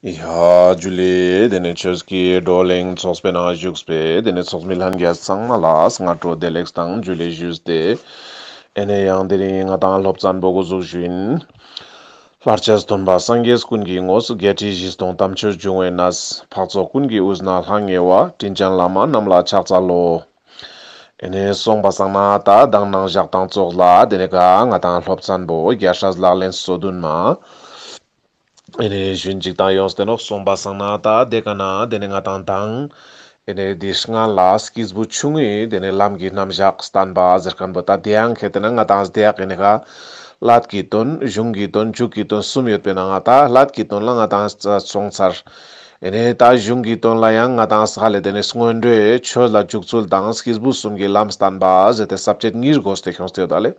ཡཱ། ཇུ་ལི། དེ་ནི་ཆོས་ཀྱི་བགྲོ་གླེང་ཚོགས་པའི་ནང་བཞུགས་པའི་དེ་ནི་ཚོགས་མི་ལྷན་རྒྱས་ཚང་མ་ལ་སྔ་དྲོ་བདེ་ལེགས་དང་ཇུ་ལི་ཞུས་ཏེ། ཨེ་ནས་ཡང་དེ་རིང་ང་དང་སློབ་ཙཱ་འབོ་གོ་གཟུགས་བཞུགས་ཡིན། ལྷར་བཅས་སྟོན་པ་སངས་རྒྱས་ཀུན་གྱི་ངོ་སོ་བརྒྱད་ཁྲི་བཞི་སྟོང་དམ་ཆོས་འབྱུང་བའི་ན་བཟས་འཕགས་ཚོགས་ཀུན་གྱི་དབུས་ན་ལྷང་ངེ་བ་དྲིན་ཅན་བླ་མ་རྣམས་ལ་ཕྱག་འཚལ་ལོ། ཨེ་ནས་གསུངས་པ་བསམ་ན་ད་གདང་སྣང་བཞག་དང་བཙོག་ལ་དེ་ནས་ག་ང་དང་སློབ་ཙཱ་འབོ་བརྒྱ་ཧྲཱི་ལག་ལེན་སོ་བདུན་མ། ཨེ་ནས་ཞུན་ཅིག་དང་ཡོངས་བསྟན་རོགས་གསུངས་པ་བཟང་ན་ད་དེ་ག་ན་དེ་ནས་ང་དང་དང། ཨེ་ནས་འདི་སྔ་ལ་སྐྱིས་བུ་ཆུང་ངུས་དེ་ནས་ལམ་གྱི་རྣམ་བཞག་བསྟན་པ་ཟེར་མཁན་པོ་ད་དེའང་གལ་ཏེ་ན་ང་དང་སྡེ་ཡག་ཨེ་ནས་ཁ། ལྷད་ཀྱི་དོན་གཞུང་གི་དོན་འཇུག་གི་དོན་གསུམ་ཡོད་པས་ན་ང་ད་ལྷད་ཀྱི་དོན་ལ་ང་དང་གསུངས་ཚར། ཨེ་ནས་ད་གཞུང་གི་དོན་ལ་ཡང་ང་དང་ཧ་ལས་དེ་ནས་སྔོན་འགྲོའི་ཆོས་ལ་འཇུག་ཚུལ་དང་སྐྱིས་བུ་གསུམ་གྱི་ལམ་བསྟན་པ་ཟེར་ཏེ་ཟབ་ཆད་གཉིས་རྒོལ་སྟེ་ཁྱོངས་ཏེ་ཡོད་ད་ལས།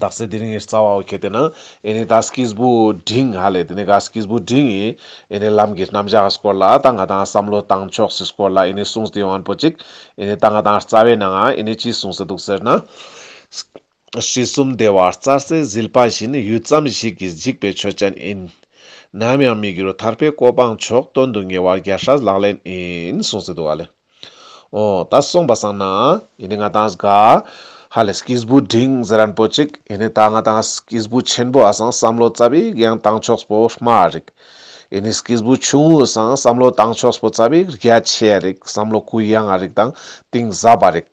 དག་སེལ་དེ་རིང་གི་རྩ་བའོ་གལ་ཏེ་ན་ཨེ་ནི་ད་སྐྱིས་བུ་འབྲིང་ཧ་ལས་དེ་ནི་ག་སྐྱིས་བུ་འབྲིང་ཡིན་ཨེ་ནི་ལམ་གྱི་རྣམ་གཞག་སྐོར་ལ་ད་ང་དང་བསམ་བློ་བཏང་ཕྱོགས་སུ་སྐོར་ལ་ཨེ་ནི་གསུངས་ཏེ་ཡོང་པོ་གཅིག་ཨེ་ནི་ད་ང་དང་རྩ་བའི་ནང་ང་ཨེ་ནི་ཅི་གསུངས་སུ་འདུག་ཟེར་ན། ཤྲི་གསུམ་སྡེ་བ་རྩ་སེ་ཟིལ་པ་བཞིན་ཡུད་ཙམ་ཞིག་གིས་འཇིག་པའི་ཆོས་ཅན་ཨིན། ནམ་ཡང་མི་འགྱུར་ཐར་པའི་གོ་འཕང་མཆོག་སྟོན་དུ་ངེས་བར་རྒྱ་ཧྲལ་ལག་ལེན་ཨིན་གསུངས་སུ་འདུག་ཨ་ལས། ཨོ། ད་སོང་པ་སང་ན། ཡིན་ནི་ང་དང་སྒ། ཧ་ལས་སྐྱིས་བུ་འབྲིང་ཟེ་རན་པོ་ཅིག་ཡིན་ནི་ད་ང་དང་སྐྱིས་བུ་ཆེན་པོ་ཨ་སང་བསམ་བློ་རྩ་བིག་ཡང་བཏང་ཆོགས་པོ་སྨྲ་རིགས། ཡིན་ནི་སྐྱིས་བུ་ཆུང་ངུ་སང་བསམ་བློ་བཏང་ཆོགས་པོ་རྩ་བིག་རྒྱ་ཆེ་རིགས་བསམ་བློ་གུ་ཡངས་རིགས་དང་གཏིང་ཟབ་པ་རིགས།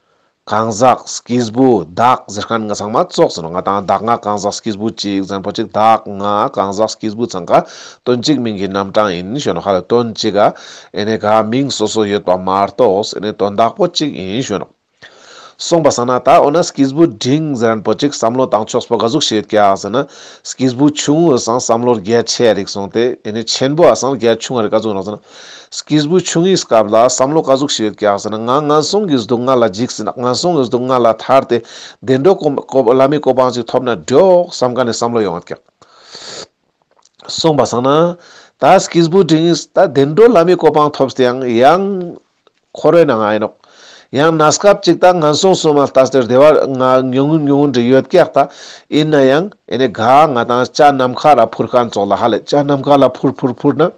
གང་ཟག་སྐྱིས་བུ་བདག་ཟེར་མཁན་ང་ཚང་མ་བཙོག་ཟེར་ནོ་ང་དང་བདག་ང་གང་ཟག་སྐྱིས་བུ་གཅིག་བཙན་པོ་གཅིག་བདག་ང་གང་ཟག་སྐྱིས་བུ་ཚང་ག་དོན་གཅིག་མིང་གི་རྣམ་གྲངས་ཡིན་ཞོན་ཧ་ལ་དོན་གཅིག་ག་ཨེ་ནས་ག་མིང་སོ་སོ་ཡོད་པ་མ་རྟོགས་ཨེ་ནས་དོན་བདག་པོ་གཅིག་ཡིན་ཞོན་ནོ། གསུངས་པ་ཟ་ན་ད་འོ་ན་སྐྱིས་བུ་འབྲིང་ཟེར་མཁན་པོ་གཅིག་བསམ་བློ་བཏང་ཆོག་སྤོ་ག་གཟུགས་བྱེད་ཀྱ་ཟེར་ན་སྐྱིས་བུ་ཆུང་འོས་སང་བསམ་བློར་རྒྱ་ཆེ་རིགས་སོང་སྟེ་ཨེ་ནས་ཆེན་པོ་ཨ་སང་རྒྱ་ཆུང་རིགས་ག་བཙུན་རོགས་ཟེར་ན། སྐྱེས་བུ་ཆུང་ངུའི་སྐབས་ལ་བསམ་བློ་བཀའ་ཟུག་ཞིག་རྒྱག་ཟིན་ན་ང་ངན་སོང་གི་སྡུག་བསྔལ་ལ་འཇིགས་ཟིན་ན་ངན་སོང་གི་སྡུག་བསྔལ་ལ་ཐར་ཏེ་བདེ་འགྲོ་སྐོམ་བླ་མའི་གོ་འཕང་ཅིག་ཐོབ་ན་འགྲོགས་བསམ་ག་ནས་བསམ་བློ་ཡོང་རྒྱག་སོང་བ་བསམ་ན། ད་སྐྱེས་བུ་འབྲིང་ངུས་ད་བདེ་འགྲོ་བླ་མའི་གོ་འཕང་ཐོབ་ཟིན་ཡང་ཡང། ཁོ་རེ་ན་ང་ཡིན་ནོག། ཡང་ན་སྐབས་ཅིག་ད་ངན་སོང་སོང་མ་ལྟ་ཟེར་བདེ་བ་ང་ཉུང་ངུ་ཉུང་ངུ་འདྲི་ཡོད་རྒྱག་ད་ཡིན་ན་ཡང་ཨེ་ནས་དགའ་ང་དང་ཅག་ནམ་མཁའ་ལ་འཕུར་ཁ་མཚོག་ལ་ཧ་ལས་ཅག་ནམ་མཁའ་ལ་འཕུར་འཕུར་འཕུར་ན།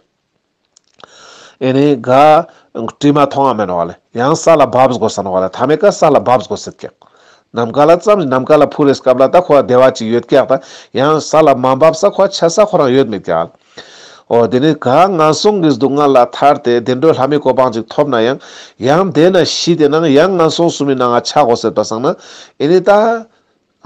ཨེ་ནས་ག། བཀྲིས་མ་མཐོང་བ་མེད་ནོ་བ་ལས་ཡང་ས་ལ་བབས་དགོས་ས་ནོ་བ་ལས་ཐ་མའི་ཀ་ས་ལ་བབས་དགོས་སྲིད་སྐད། ནམ་མཁའ་ལ་བརྩམས་ནས་ནམ་མཁའ་ལ་འཕུར་རེས་སྐབས་ལ་ད་ཁོ་བདེ་བ་ཅིག་ཡོད་སྐད་ད་ཡང་ས་ལ་མ་བབས་ས་ཁོ་ཆད་ས་ཁོ་རང་ཡོད་མེད་སྐད། ཨོ་དེ་ནས་ག་ང་སོང་གི་སྡུག་བསྔལ་ལ་ཐར་ཏེ་བདེ་འགྲོའི་ལྷ་མིའི་གོ་འཕང་ཅིག་ཐོབ་ན་ཡང་ཡང་འདས་ན་ཤི་དེ་ནང་ཡང་ང་སོང་སུ་མི་ནང་ང་ཆག་གོ་སྲིད་པ་བསམ་ན་ཨེ་ནས་ད།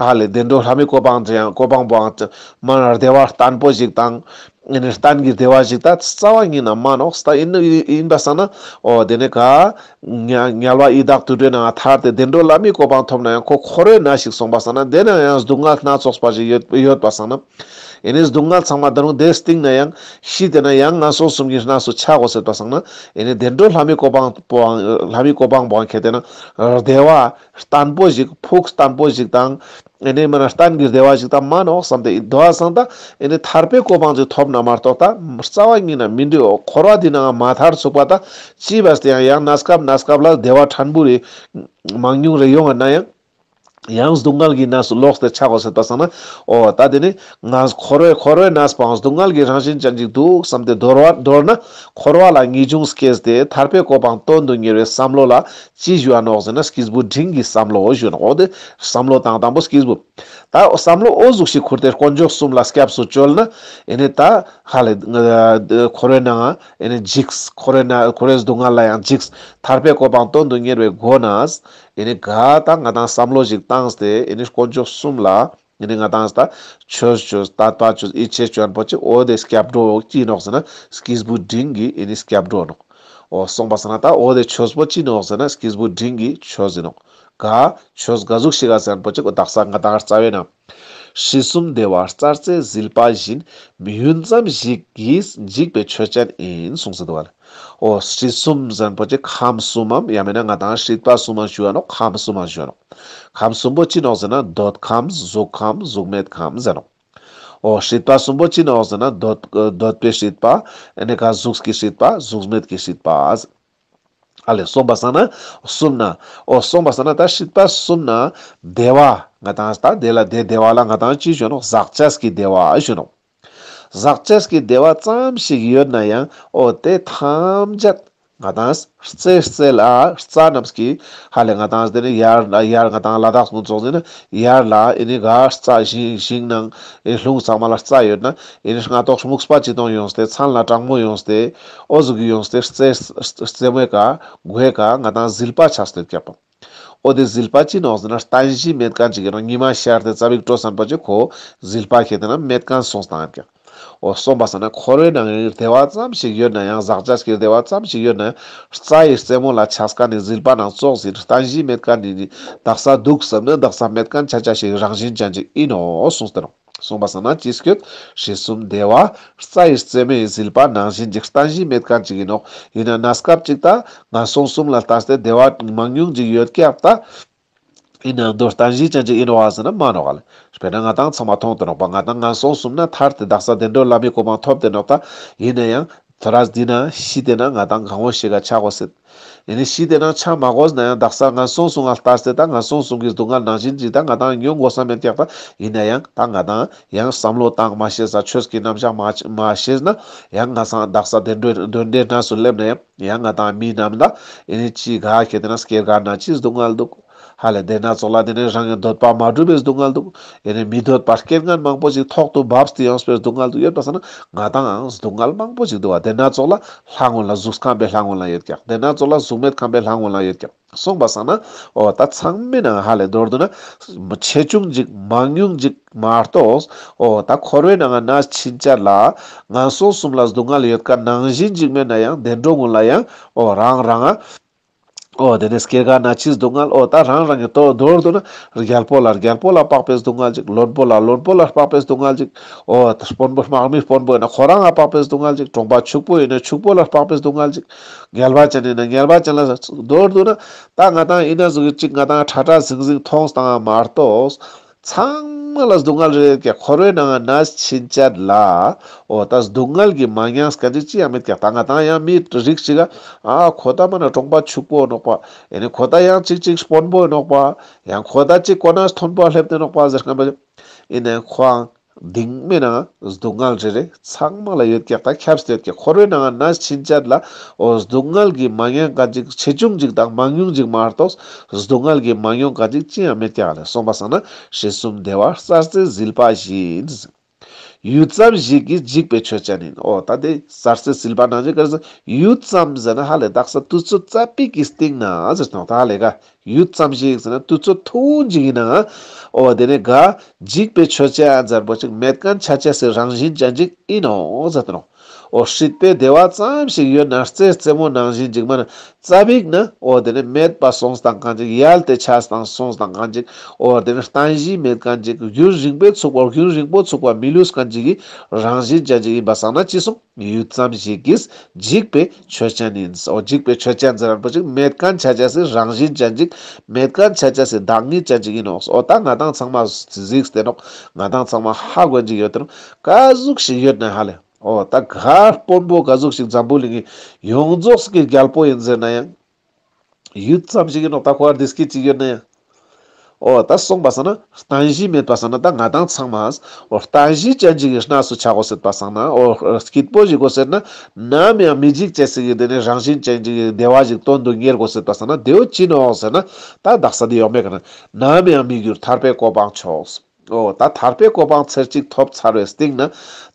ལྷ་ལས་བདེ་འགྲོ་ལྷ་མོའི་གོ་འཕང་ཅི་ཡང་གོ་འཕང་པོའང་ཅི་མ་རུང་བདེ་བ་བརྟན་པོ་ཞིག་དང། གཏན་གྱི་བདེ་བ་ཞིག་ད་རྩ་བ་ཉིད་ནང་མ་ནོགས་སྟ་ཡིན་ནོ་ཡིན་པ་བསམ་ན་ཨོ་དེ་ནས་གཉལ་བ་ཡི་དྭགས་དུད་འགྲོའི་ནང་ཐར་ཏེ་བདེ་འགྲོ་བླ་མའི་གོ་འཕང་ཐོབ་ན་ཡང་ཁོ་ཁོ་རོའི་ན་ཞིག་སོང་པ་བསམ་ན་དེ་ནང་ཡང་སྡུག་བསྔལ་སྣ་ཚོགས་པ་ཞིག་ཡོད་པ་བསམ་ན་ཨེ་ནས་སྡུག་བསྔལ་ཚང་མ་འདི་རུང་དེའི་སྟེང་ན་ཡང་ཤི་དེ་ན་ཡང་ང་སོང་གསུམ་གྱི་ན་སོ་ཆག་གོ་ཟེར་པ་བསམ་ན་ཨེ་ནས་བདེ་འགྲོ་ལྷ་མོའི་གོ་འཕང་པོའང་བདེ་བ་བརྟན་པོ་ཞིག་ཕུགས་བརྟན་པོ་ཞིག་དང། ཨེ་ནས་མིན་ན་གཏན་གྱི་བདེ་བ་ཞིག་དང་མ་ནོག་བསམ་སྟེ་འདུ་བ་སངས་ད་ཨེ་ནས་ཐར་པའི་གོ་འཕང་ཅིག་ཐོབ་ན་མ་རྟོགས་ད་རྩ་བ་ཉིད་ན་མི་འདུས་འོ་འཁོར་བ་འདི་ནའང་མ་ཐར་ཚུགས་པ་ད་ཅི་བས་ཏེ་ཡང་ཡང་ན་སྐབས་ན་སྐབས་ལ་བདེ་བ་ཕྲན་བུ་རེ། མང་ཉུང་རེ་ཡོང་བ་ན་ཡང། ཡང་སྡུག་བསྔལ་གྱི་གནས་སུ་ལོག་སྟེ་ཆགས་གོ་སྲིད་པ་སངས་ན་འོ་ད་དེ་ནས་ང་འཁོར་བའི་འཁོར་བའི་གནས་སྤངས་སྡུག་བསྔལ་གྱི་རང་བཞིན་ཅན་ཅིག་འདུག་བསམ་སྟེ་འདོར་བ་འདོར་ན་འཁོར་བ་ལ་ངེས་འབྱུང་སྐྱེས་ཏེ་ཐར་པའི་གོ་འཕང་སྟོན་དུ་ཉེར་བའི་བསམ་བློ་ལ་ཅི་ཞུ་བ་ནོག་ཟེར་ན་སྐིས་བུ་འབྲིང་གིས་བསམ་བློ་འོ་ཞུ་ནོག་འོ་དེ་བསམ་བློ་དང་དང་པོ་སྐིས་བུ། ད་བསམ་བློ་འོ་གཟུགས་ཤིག་ཁུར་ཏེ་དཀོན་མཆོག་གསུམ་ལ་སྐྱབས་སུ་བཅོལ་ན། ཨེ་ནས་ད་ཧ་ལས། ཁོ་རོ་ནའང་ཨེ་ནས་འཇིགས། ཁོ་རོ་ན་ཁོ་རོའི་སྡུག་བསྔལ་ལ་ཡང་འཇིགས། ཐར་པའི་གོ་འཕང་སྟོན་དུ་གཉེར་བའི་སྒོ་ནས། ཨེ་ནས་ག་ད་ང་དང་བསམ་བློ་ཞིག་བཏང་སྟེ་ཨེ་ནས་དཀོན་མཆོག་གསུམ་ལ། ཉི་ནི་ང་དང་ཟད། ཆོས་ཆོས་ད་ལྟ་ཆོས་ཨི་ཆེ་སྐྱོན་པོ་ཅིག་ཨོ་དེ་སྐྱབས་འགྲོ་ཅི་ནོག་ཟེར་ན་སྐྱིས་བུ་འབྲིང་གིས་ཨི་ནི་སྐྱབས་འགྲོ་ནོག། ཨོ་གསུངས་པ་ཟེར་ན་ད་ཨོ་དེ་ཆོས་པོ་ཅི་ནོག་ཟེར་ན་སྐྱིས་བུ་འབྲིང་གིས་ཆོས་ཟིན་ནོག། ག། ཆོས་ག་གཟུགས་ཤིག་ཨ་ཟེར་པོ་ཅིག་ཨོ་བདག་ས་ང་དང་རྩ་བའི་ནང། ཤྲཱི་གསུམ་བདེ་བ་རྩ་རྩེ་ཟིལ་པ་བཞིན་མི་ཡུན་ཙམ་ཞིག་གིས་འཇིག་པའི་ཆོས་ཅན་ཨིན་གསུངས་ཟིན་འདུག་བ་ལ། ཨོ་ཧྲིལ་གསུམ་རིན་པོ་ཆེ་ཁམས་གསུམ་མམ་ཡང་མིན་ན་ང་དང་ཧྲིལ་པ་གསུམ་མ་ཞུ་བ་ནོ་ཁམས་གསུམ་མ་ཞུ་བ་ནོ། ཁམས་གསུམ་པོ་ཅི་ནོག་ཟེར་ན་འདོད་ཁམས་གཟུགས་ཁམས་གཟུགས་མེད་ཁམས་ཟེར་ནོ། ཨོ་ཧྲིལ་པ་གསུམ་པོ་ཅི་ནོག་ཟེར་ན་འདོད་པའི་ཧྲིལ་པ་ནས་ཀ་གཟུགས་ཀྱི་ཧྲིལ་པ་གཟུགས་མེད་ཀྱི་ཧྲིལ་པ་ཟེར། ཨ་ལས་གསུངས་པ་བསམ་ན་གསུམ་ན། ཨོ་གསུངས་པ་བསམ་ན་ད་ཧྲིལ་པ་གསུམ་ན་བདེ་བ་ང་དང་ད་བདེ་ལ་བདེ་བདེ་བ་ལ་ང་དང་ཅི་ཞུ་བ་ནོ་ཟག་བཅས་ཀྱི་བདེ་བ་ཞུ་ནོ། ཟག་བཅས་ཀྱི་བདེ་བ་ཙམ་ཞིག་ཡོད་ན་ཡང་ཨོ་དེ་ཐམས་ཅད་ང་དང། རྩེ་རྩེ་ལ་རྩ་རྣམས་ཀྱི་ཧ་ལས་ང་དང་དེ་ནི་ཡར་ལ་ཡར་ང་དང་ལ་དྭགས་ཀུན་རྫོགས་འཛིན་ན་ཡར་ལ་ཨེ་ནི་ག་རྩ་བཞིན་ཞིང་ནང་ཨེ་ལྷུང་ཚང་མ་ལ་རྩ་ཡོད་ན་ཨེ་ནི་རྔ་ཏོག་སྨུག་སྤ་ཅི་སྟོང་ཡོང་སྟེ་ཚང་ལ་སྤྲང་མོ་ཡོང་སྟེ་ཨོ་གཟུགས་ཡོང་སྟེ་རྩེ་རྩེ་མོའི་ག་གོའི་ག་ང་དང་ཟིལ་པ་ཆགས་སྟེ་བརྒྱ་སྟོང། ཨོ་དེ་ཟིལ་པ་ཅི་ནོག་ཟེར་ན་རྟ་བཞིན་མེད་རྐང་གཅིག་གིས་རང་ཉི་མ་ཤར་ཏེ་རྩ་བིག་སྤྲོ་བསམ་པ་བྱེད་ཁོ། ཟིལ་པ་ཁྱེར་ཏེ་ན་མེད་རྐང་སོང་སྟངས་ཡབ་ཀྱང། ཨོ་སོང་པ་ཟེར་ན་ཁོ་རོའི་ནང་རིར་དལ་བ་ཙམ་ཞིག་ཡོད་ན་ཡང་ཟག་ཆ་ཁྱེར་དལ་བ་ཙམ་ཞིག་ཡོད་ན། རྩ་ཡི་རྩེ་མོ་ལ་ཆགས་ཀ་ནི་ཟིལ་པ་ནང་ཙོག་ཟིན་རྟ་བཞིན་མེད་རྐང་འདི་ནི་བདག་ས་འདུག་བསམ་ན་བདག་ས་མེད་རྐང་ཆ་ཆ་ཞིག་རང་བཞིན་ཅན་གཅིག་ཡིན་ནོ་གསུངས་སྟེ་ནོ། གསུངས་པ་ཟ་ན་ཅི་སྐྱོད་ཞེ་གསུམ་བདེ་བ། རྩྭ་ཡི་རྩེ་མོ་ཡི་ཟིལ་པ་ནང་བཞིན་འཇིག་རྟ་བཞིའི་མེད་གང་ཅིག་ཡིན་ནོ། ཡིན་ན་ན་སྐབས་གཅིག་ལྟ། ང་སོང་གསུམ་ལ་ལྟ་སྟེ་བདེ་བ་མང་ཉུང་ཅིག་ཡོད་སྐྱབས་ལྟ། ཡིན་ན་མདོ་རྟ་བཞིའི་སྤྱན་གཅིག་ཡིན་རོགས་ཟེར་ན་མ་རོགས། དཔེར་ན་ང་དང་ཚང་མ་མཐོང་དུ་རོགས་པ་ང་དང་ང་སོང་གསུམ་ན་ཐར་ཏེ་བདག་ས་བདེ་འགྲོ་བླ་མའི་གོ་འཕང་ཐོབ་བདེ་རོགས་ལྟ། ཡིན་ན་ཡང། ད་རག་འདི་ན་གཞི་བལྟས་ན་ང་དང་གང་བོ་ཞིག་ག་ཆག་གོ་སྲིད། ཡིན་ནི་གཞི་བལྟས་ན་ཆག་མ་གོ་ཟནའང་བདག་ས་ང་སོང་སུང་ང་ལྟར་བསད་ད་ང་སོང་སུང་གིས་སྡུག་ང་ནང་བཞིན་འཇིག་ད་ང་དང་ཉོ་མགོ་ས་མེར་བཀྱག་ད་ཡིན་ན་ཡང་ད་ང་དང་ཡང་བསམ་བློ་བཏང་མ་ཤེས་ས་ཆོས་ཀྱི་རྣམ་གཞག་མ་མ་ཤེས་ན་ཡང་ང་སང་བདག་ས་བདེ་འགྲོའི་དོན་འདྲེ་སྣ་སུ་སླེབས་ན་ཡང་ཡང་ང་དང་མི་རྣམས་ད་ཡིན་ནི་ཅི་ག་གལ་ཏེ་ན་སྐྱེར་ག་ན་ཅི་སྡུག་ང་སྡུག། ཧ་ལས་དེ་ན་ཚོགས་ལ་དེ་ནས་རང་གི་འདོད་པ་མ་གྲུབ་པའི་སྡུག་བསྔལ་འདུག་ཡེ་ནས་མི་འདོད་པར་སྐྱེ་འགན་མང་པོ་ཞིག་ཐོག་ཏུ་བབས་སྟེ་ཡོངས་སུ་པའི་སྡུག་བསྔལ་དུ་ཡོད་པ་ས་ན་ང་དང་འང་སྡུག་བསྔལ་མང་པོ་ཞིག་འདུག་བ་དེ་ན་ཚོགས་ལ་ལྷ་སྔོན་ལ་གཟུགས་ཁམས་པའི་ལྷ་སྔོན་ལ་ཡོད་ཀྱང་དེ་ན་ཚོགས་ལ་གཟུགས་མེད་ཁམས་པའི་ལྷ་སྔོན་ལ་ཡོད་ཀྱང་གསུངས་པ་ས་ན་འོ་ད་ཚང་མི་ནང་ཧ་ལས་མདོར་བསྡུ་ན། ཆེ་ཆུང་འཇིག་མང་ཉུང་འཇིག་མ་གཏོགས། འོ་ད་འཁོར་བའི་ནང་ན་ཕྱིན་ཆད་ལ། ངན་སོང་གསུམ་ལ་སྡུག་བསྔལ་ཡོད་ཀ་ནང་བཞིན་འཇིག་མེད་ན་ཡང་བདེ་འགྲོ་སྔོན་ལ་ཡང་འོ་རང་རང། ཨོ་དེ་ནས་སྐྱེ་རྒ་ན་འཆིའི་སྡུག་བསྔལ་ཨོ་ད་རང་རང་གི་ལྟོ་མདོར་བསྡུ་ན། རྒྱལ་པོ་ལ་རྒྱལ་པོ་ལ་དཔག་པའི་སྡུག་བསྔལ་ཅིག་བློན་པོ་ལ་བློན་པོ་ལ་དཔག་པའི་སྡུག་བསྔལ་ཅིག་ཨོ། དཔོན་པོ་དམག་མི་དཔོན་པོ་ཡིན་ན་ཁོ་རང་ལ་དཔག་པའི་སྡུག་བསྔལ་ཅིག་གྲོང་པ་ཕྱུག་པོ་ཡིན་ན་ཕྱུག་པོ་ལ་དཔག་པའི་སྡུག་བསྔལ་ཅིག། ངལ་བ་ཅན་ཡིན་ན་ངལ་བ་ཅན་ལ། མདོར་བསྡུ་ན། ད་ང་དང་ཡིན་ན་གཟུགས་ཀྱི་གཅིག་ང་དང་ཁྲ་ཁྲ་ཟིང་ཟིང་མཐོང་དང་མ་རྟོགས། ཚང་མ་ལ་སྡུག་བསྔལ་རེ་རེར་ཀྱང་ཁོ་རོའི་ནང་ང་ན་ཕྱིན་ཅད་ལ། འོ་ད་སྡུག་བསྔལ་གྱིས་མ་མྱངས་ཀ་ཅིག་ཅི་ཡང་མེད་ཀྱང་ད་ང་དང་ཡང་མིའི་རིགས་ཤིག་ཨ། ཁོ་ད་མ་ན་གྲོངས་པ་ཕྱུག་པོ་ནོག་པ། ཨེ་ནི་ཁོ་ད་ཡང་ཅིག་ཅིག་དཔོན་པོས་ནོག་པ། ཡང་ཁོ་ད་ཅིག་ཀོ་ནའི་ཐོན་པོ་སླེབས་ཏེ་ནོག་པ་ཟེར་ཁན་པ། ཨེ་ནས་ཁོའང། གདིང་མེད་ན་སྡུག་བསྔལ་རེ་རེ་ཚང་མ་ལ་ཡོད་ཀྱང་ད་ཁྱབ་གདལ་གྱི་འཁོར་བའི་ནང་ན་ཕྱིན་ཆད་ལ་འོ་སྡུག་བསྔལ་གྱི་མ་ཉེན་ཁ་ཅིག་ཆེ་ཆུང་ཅིག་དང་མང་ཉུང་ཅིག་མ་གཏོགས་སྡུག་བསྔལ་གྱི་མ་ཉོན་ཁ་ཅིག་ཅི་ཡང་མེད་ཀྱང་རེད་སོང་པ་སང་ན་ཞེ་གསུམ་བདེ་བ་གསར་རྩེ་ཟིལ་པ་བཞིན། ཡུད་ཙམ་ཞིག་གིས་འཇིག་པའི་ཆོས་ཅན་ཡིན་འོ་ད་དེ་གསར་རྩེ་ཟིལ་པ་ནང་བཞིན་ཀར་ཟེར་ཡུད་ཙམ་ཟེར་ན་ཧ་ལས་རྟགས་ས་དུས་ཚོད་རྩ་པིག་གི་སྟེང་ན་ཟེར་སྟོང་ད་ཧ་ལས་ཀ་ཡུད་ཙམ་ཞིག་ཟིན་ན་བཏུད་ཚོད་ཐུང་ཅིག་ཡིན་ནའང། ཨོ་དེ་ནི་དགའ། འཇིགས་པའི་ཆོས་བྱེད་ཨ་མཛའ་པོ་ཅིག་མེད་ཀན་ཆ་ཆས་སི་རང་བཞིན་ཅན་ཅིག་ཨི་ནོ་ཟ་ཏི་ནོ། ཨོ་ཧྲིད་པའི་བདེ་བ་ཙམ་ཞིག་ཡོད་ན་རྩེ་རྩེ་མོ་ནང་བཞིན་ཅིག་མ་ནི་རྩ་བིག་ན། ཨོ་དེ་ནི་མེད་པ་སོང་སྟངས་གང་ཅིག་ཡལ་ཏེ་ཆགས་སྟངས་སོང་སྟངས་གང་ཅིག་ཨོ་དེ་ནི་རྟན་བཞིན་མེད་ཀན་ཅིག་རྒྱུན་རིང་པོས་ཚུགས་པ་རྒྱུན་རིང་པོ་ཚུགས་པ་མི་ལུས་ཀན་ཅིག་གི་རང་བཞིན་ཅན་ཅིག་ཡིན་པ་བསམ་ན་ཅི་གསུང། ངས་ཡུད་ཙམ་ཞིག་གིས་འཇིགས་པའི་ཆོས་ཅན་ཡིན། ཨོ་འཇིགས་པའི་ཆོས་ཅན་ཟེར་བ་པོ་ཅིག་མེད་ཀན་ཆ་ཅན་སི་རང་བཞིན་ཅན་ཅིག་མེད་ཀན་ཆ་ཅན་སི་བདག་ཉིད་ཅན་ཅིག་ཡིན་ནོ། ཨོ་ད་ང་དང་ཚང་མ་གཟིགས་བསྟེན་རོགས། ང་དང་ཚང་མ་ཧ་གོན་ཅིག་ཡོད་དོན་ཀ་གཟུགས་ཤིག་ཡོད་ནི་ཧ་ལས། ཨོ་ད་གར་དཔོན་པོ་ག་གཟུགས་ཤིག་འཛམ་བུ་གླིང་གི་ཡོངས་རྫོགས་སི་གི་རྒྱལ་པོ་ཡིན་ཟེར་ན་ཡང། ཡུད་ཙམ་ཞིག་ཡིན་ནོ་ད་ཁོ་ཨར་དིས་ཀི་ཅིག་ཡོད་ནི། ཨོ་ད་སོང་པ་སང་ན་རྟ་བཞི་མེད་པ་སང་ན་ད་ང་དང་ཚང་མ་ཨོ་རྟ་བཞི་ཅན་ཅིག་གི་སྣ་སུ་ཆགས་གོ་སྲིད་པ་སང་ན་ཨོ་སྐྱིད་པོ་ཞིག་གོ་ཟེར་ན་ནམ་ཡང་མི་འཇིག་ཅེས་ཟིག་གི་དེ་ནི་རང་བཞིན་ཅན་ཅིག་གི་བདེ་བ་ཞིག་སྟོན་དུ་གཉེར་གོ་སྲིད་པ་སང་ན་དེའུ་ཅི་ནོ་ཟེར་ན་ད་བདག་ས་དེ་ཡོག་མེད་གི་ནི་ནམ་ཡང་མི་འགྱུར་ཐར་པའི་གོ་འཕང་ཕྱོགས་སུ། ཨོ། ད་ཐར་པའི་གོ་འཕང་ཚེར་གཅིག་ཐོབ་ཚར་བའི་སྟེང་ན།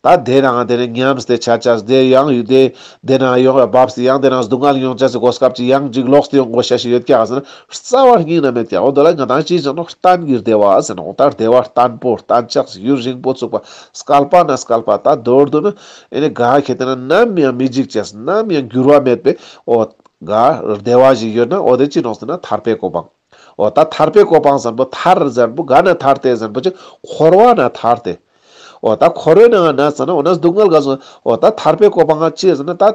ད་དེ་རང་དེ་ནས་ཉམས་སུ་དེ་བྱ་བྱ་སྡེར་གཡང་ཡུལ་དེ། དེ་ན་ཡོང་བའི་བབས་སུ་གཡང་དེ་རང་སྡུག་བསྔལ་མྱོང་བྱ་ཚེ་གོ་སྐབས་ཀྱིས་གཡང་འཇིགས་ལོགས་སུ་ཡོང་དགོས་བྱ་ཞིག་ཡོད་ཀྱང་ཟེར་ན་རྩ་བར་སྙིང་ན་མེད་ཀྱང་ཨོ་དོ་ལ་ང་དང་ཅིས་ཀྱང་ནོག་ཏན་གྱིར་བདེ་བ་ཟེར་ན་ཨོ་ད་བདེ་བ་ཏན་པོ་ཏན་ལྕགས་སུ་ཡུར་རིང་པོ་བཙུགས་པ་སྐལ་པ་ན་སྐལ་པ་ད་རྡོར་འདུག་ན་ཨེ་ནས་གཱ་ཁྱེད་དེ་ན་ནམ་ཡང་མི་འཇིགས་ཅེས་ནམ་ཡང་འགྱུར་བ་མེད་པས་ཨོ། གཱ། བདེ་བ་ཞིག་ཡོད་ན་ཨོ་དེ་ཅི་ནོག་ཟེར་ན་ཐར་པའི་གོ་འཕང། འོ་ད་ཐར་པའི་གོ་འཕང་བཟང་པོ་ཐར་གཟར་བུ་ག་ན་ཐར་ཏེ་གཟར་བུ་ཅིག་འཁོར་བ་ན་ཐར་ཏེ། འོ་ད་འཁོར་བའི་ནང་ན་ཟ་ན་འོ་ན་སྡུག་བསྔལ་ག་སོང་འོ་ད་ཐར་པའི་གོ་འཕང་ཅི་ཟེར་ན་ད།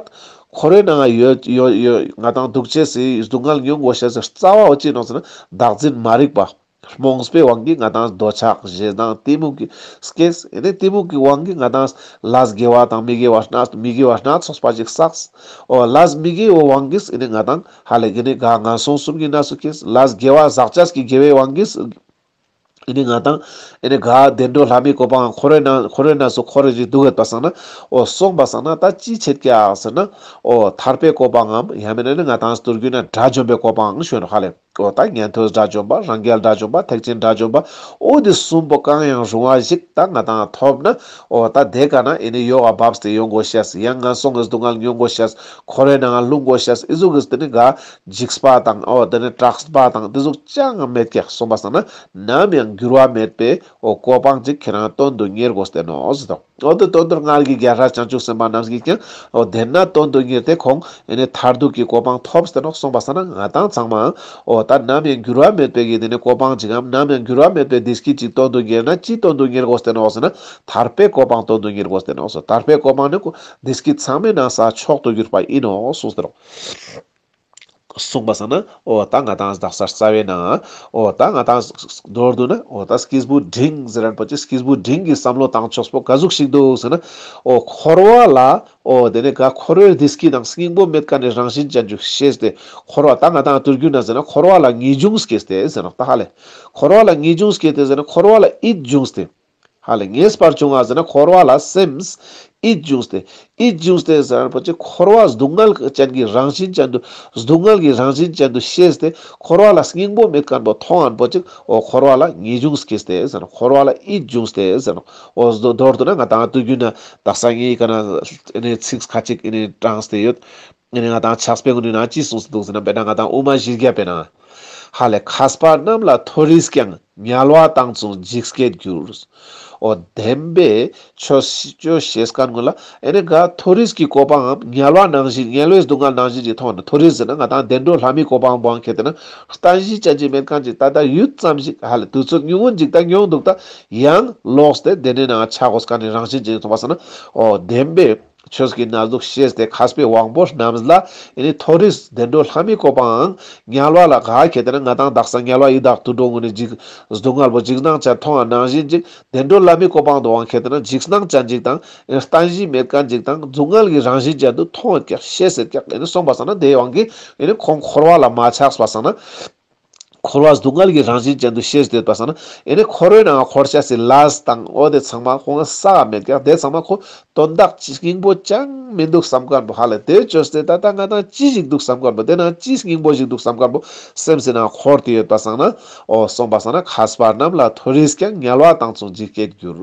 འཁོར་བའི་ནང་ཡོད་ཡོད་ཡོད་ང་དང་སྡུག་བྱེད་སྲིད་སྡུག་བསྔལ་མྱོང་གོ་ཞེས་རྩ་བ་བོ་ཅི་ནོ་ཟེར་ན་བདག་འཛིན་མ་རིག་པ། རྨོངས་པའི་དབང་གིས་ང་དང་འདོད་ཆགས་བཞེད་དང་གཏི་མུག་གི་སྐྱེས་ཨེ་ནས་གཏི་མུག་གི་དབང་གིས་ང་དང་ལས་དགེ་བ་དང་མི་དགེ་བ་སྣ་མི་དགེ་བ་སྣ་ཚོགས་པ་ཅིག་བསགས། འོ་ལས་མི་དགེའི་དབང་གིས་ཨེ་ནས་ང་དང། ཧ་ལས་ཀྱི་ནི་ག་ང་སོང་གསུམ་གྱི་ན་སུ་ཁེས་ལཱས་དགེ་བ་ཟག་བཅས་ཀྱི་དགེ་བའི་དབང་གིས། ཨེ་ནི་ང་དང། ཨེ་ནི་ག་བདེ་འགྲོ་ལྷ་མིའི་བཀོད་པའང་ཁོ་རོའི་ན་ཁོ་རོའི་ན་སུ་ཁོ་རེ་རེ་འདུག་གས་པ་སང་ན། ཨོ་སོང་པ་སང་ན་ད་ཅི་བྱེད་ཀྱ་ཟེར་ན། ཨོ་ཐར་པའི་བཀོད་པའང་འམ་ཡ་མེད་ན་ནི་ང་དང་སྟུར་རྒྱུད་ན་དགྲ་བཅོམ་པའི་བཀོད་པའང་བྱོན་ནོ་ཧ་ལས། ཨོ་ད་ཉན་ཐོས་དགྲ་བཅོམ་པ་རང་རྒྱལ་དགྲ་བཅོམ་པ་ཐེག་ཆེན་དགྲ་བཅོམ་པ། ཨོ་འདི་གསུམ་པོ་གང་ཡང་རུང་བ་ཞིག་ད་ང་དང་ཐོབ་ན། ཨོ་ད་དེ་ག་ན་ཨེ་ནི་ཡོ་ག་བབས་ཏེ་ཡོང་གོ་ཤས་ཡང་ང་སོང་གས་སྡུག་བསྔལ་མྱོང་གོ་ཤས། ཁོ་རེ་ནང་ལུགས་མགོ་ཤེས་ཨི་གཟུགས་རིས་དེ་ནི་ག་འཇིགས་པ་དང་ཨོ་དེ་ནི་གྲགས་པ་དང་དེ་གཟུགས་ཅང་མེད་ཀྱི་གསུངས་པ་སང་ན་ནམ་ཡང་འགྱུར་བ་མེད་པའི་ཨོ་གོ་འཕང་ཅིག་ཁྱེད་རང་དོན་དུ་གཉེར་དགོས་བསྟན་ནོ་ཟེར་ཏོ་ཨོ་དེ་དོན་དུར་སྔར་གྱི་རྒྱལ་སྲས་བྱང་ཆུབ་སེམས་དཔའ་རྣམས་ཀྱིས་ཀྱང་ཨོ་བདེན་ན་དོན་དུ་གཉེར་ཏེ་ཁོང་ཨེ་ནི་མཐར་ཐུག་གི་གོ་འཕང་ཐོབ་བསྟན་ནོ་གསུངས་པ་སང་ན་ང་དང་ཚང་མའང་ཨོ་ད་ནམ་ཡང་འགྱུར་བ་མེད་པའི་གི་དེ་ནི་གོ་འཕང་ཅིག་གམ་ནམ་ཡང་འགྱུར་བ་མེད་པའི་བདེ་སྐྱིད་ཅིག་དོན་དུ་གཉེར་ན་ཅི་དོན་དུ་གཉེར་དགོས་བསྟན་ནོ་ཟེར་ན་ཐར་པའི་གོ་འཕང་དོན་དུ་གཉེར་དགོས་བསྟན་ནོ་ཟེར་ཐར་པའི་གོ་འཕང་ནི་འདི་སྐད་ཚང་མས་ན་བཟའ་མཆོག་ཏུ་གྱུར་པ་ཡིན་ནོ་གསུངས་སོ། གསུངས་པ་ས་ན་ཨོ་ད་ང་དང་བདག་སར་རྩ་བའི་ན། ཨོ་ད་ང་དང། མདོར་བསྡུ་ན་ཨོ་ད་སྐྱིས་བུ་འབྲིང་ཟེར་རན་པོ་ཆེ་སྐྱིས་བུ་འབྲིང་གིས་བསམ་བློ་བཏང་ཆོག་པོ་ག་ཟུག་ཞིག་འདུག་ཟེར་ན། ཨོ་འཁོར་བ་ལ། ཨོ་དེ་ནས་ག་འཁོར་བའི་འདི་སྐད་དང་སྙིང་པོ་མེད་ཀ་ནས་རང་བཞིན་ཅན་ཅུག་ཤེས་ཏེ། འཁོར་བ་ད་ང་དང་ལྟོས་གྱུར་ན་ཟེར་ན་འཁོར་བ་ལ་ངེས་འབྱུང་སྐྱེས་ཏེ་ཟེར་ན་ཏཱ་ཧ་ལས། འཁོར་བ་ལ་ངེས་འབྱུང་སྐྱེས་ཏེ་ཟེར་ན་འཁོར་བ་ལ་ཨིད་འབྱུང་སྟེ། ཧ་ལས་ངེས་པར་བྱུང་བ་ཟེར་ན་འཁོར་བ་ལ་སེམས། ཨིད་འབྱུང་སྟེ། ཨིད་འབྱུང་སྟེ་ཟེར་བ་ནི་བོད་ཀྱི་འཁོར་བ་སྡུག་བསྔལ་ཅན་གྱི་རང་བཞིན་ཅན་དུ་སྡུག་བསྔལ་གྱི་རང་བཞིན་ཅན་དུ་ཤེས་ཏེ་འཁོར་བ་ལ་སྙིང་པོ་མེད་ཀར་པོ་མཐོང་བ་པོ་ཅིག་འོ་འཁོར་བ་ལ་ངེས་འབྱུང་སྐྱེས་ཏེ་ཟེར་ན་འཁོར་བ་ལ་ཨིད་འབྱུང་སྟེ་ཟེར་ནོ། འོ་མདོར་བསྡུ་ན་ང་དང་དུས་རྒྱུན་ན་ད་སང་ངེས་ཀ་ན་ཚིག་ཁ་ཅིག་དྲངས་ཏེ་ཡོད། ངས་ནི་ང་དང་ཕྱག་སྤེལ་ངོ་ནུས་ན་ཅི་གསུངས་སུ་འདུག་ཟེར་ན་འབད་ན་ང་དང་དབུ་མ་བཞི་བརྒྱ་སྤེལ་ན། ཧ་ལས་ཁ་སྤར་རྣམས་ལ་མཐོ་རིས་ཀྱང་ཉལ་བ་བཏང་ཙུང་འཇིགས་སྐད་འགྱུར། ཨོ་བདེན་པས་ཆོས་སྤྱོད་ཤེས་དཀའ་ངོ་ལ་ཨེ་ནས་དགའ་མཐོ་རིས་ཀྱི་སྐོར་པའམ་ཉལ་བ་ནང་བཞིན་ཉལ་བའི་སྡུག་བསྔལ་ནང་བཞིན་གྱི་ཐོག་ནས་མཐོ་རིས་ཟེར་ན་ང་དང་བདེ་འགྲོ་ལྷ་མིའི་སྐོར་པའམ་དབང་མཁས་དེ་ན་ལྟ་བཞིན་བྱ་བྱེད་མེད་གང་ཅིག་ད་ལྟ་ཡུད་ཙམ་ཞིག་ཧ་ལས་དུས་ཚོད་ཉུང་ངུ་འཇིག་ད་མྱོང་འདུག་ད་ཡང་ལོགས་སུ་དེ་བདེན་གནས་ནའང་ཆག་གོ་ས་ག་ནས་རང་བཞིན་ཅན་ཡིན་ཐུག་པ་ཟེར་ན་ཨོ་བདེན་པས། ཆོས་ཀྱི་ན་ཟུག་ཤེས་ཏེ་ཁ་སྤེ་དབང་པོ་རྣམས་ལ་ནི་མཐོ་རིས་བདེ་འགྲོ་ལྷ་མི་བཀོད་པའང་ཉལ་བ་ལ་ག་གེ་དེ་ན་ང་དང་བདག་སང་ཉལ་བ་ཡི་དྭགས་དུད་འགྲོ་ངུ་ནི་འཇིགས་སྡུག་དངལ་བུ་འཇིགས་སྣང་ཅན་མཐོང་བ་ནང་བཞིན་འཇིགས་བདེ་འགྲོ་ལྷ་མི་བཀོད་པའང་དུ་བང་གེ་དེ་ན་འཇིགས་སྣང་ཅན་འཇིགས་དང་ལྟ་བཞིན་མེད་དཀའ་འཇིགས་དང་སྡུག་དངལ་གྱི་རང་བཞིན་ཅན་དུ་མཐོང་བས་ཀྱང་ཤེས་ཟེར་ཀྱང་གསུངས་པ་སང་ན་དེའི་དབང་གིས་ནི་ཁོང་འཁོར་བ་ལ་མ་ཆགས་པ་སང་ན་འཁོར་བ་སྡུག་བསྔལ་གྱི་རང་བཞིན་ཅན་དུ་ཤེས་བྱེད་དུ་བཏགས་ས་ན། ཡེ་ནས་ཁོ་རོའི་ནང་འཁོར་བྱ་སྲིད་ལ་དང་བོ་དེ་ཚང་མ་ཁོ་ན་ས་བ་མེད་ཀྱང་དེ་ཚང་མ་ཁོ་དོན་བདག་གཅིག་སྙིང་པོ་ཅང་མི་འདུག་བསམ་དཀར་པོ་ཧ་ལས་དེ་བཅོས་ཚེ་ད་ལྟ་ང་དང་ཅི་ཞིག་འདུག་བསམ་དཀར་པོ་དེ་ན་ཅི་སྙིང་པོ་ཞིག་འདུག་བསམ་དཀར་པོ་སེམས་ཀྱི་ནང་འཁོར་དེ་ཡོད་པ་སང་ན་འོ་སོང་པ་སང་ན་ཁ་སྤར་རྣམས་ལ་མཐོ་རིས་ཀྱང་ཉལ་བ་དང་མཚུངས་ཇི་སྐད་གྱུར།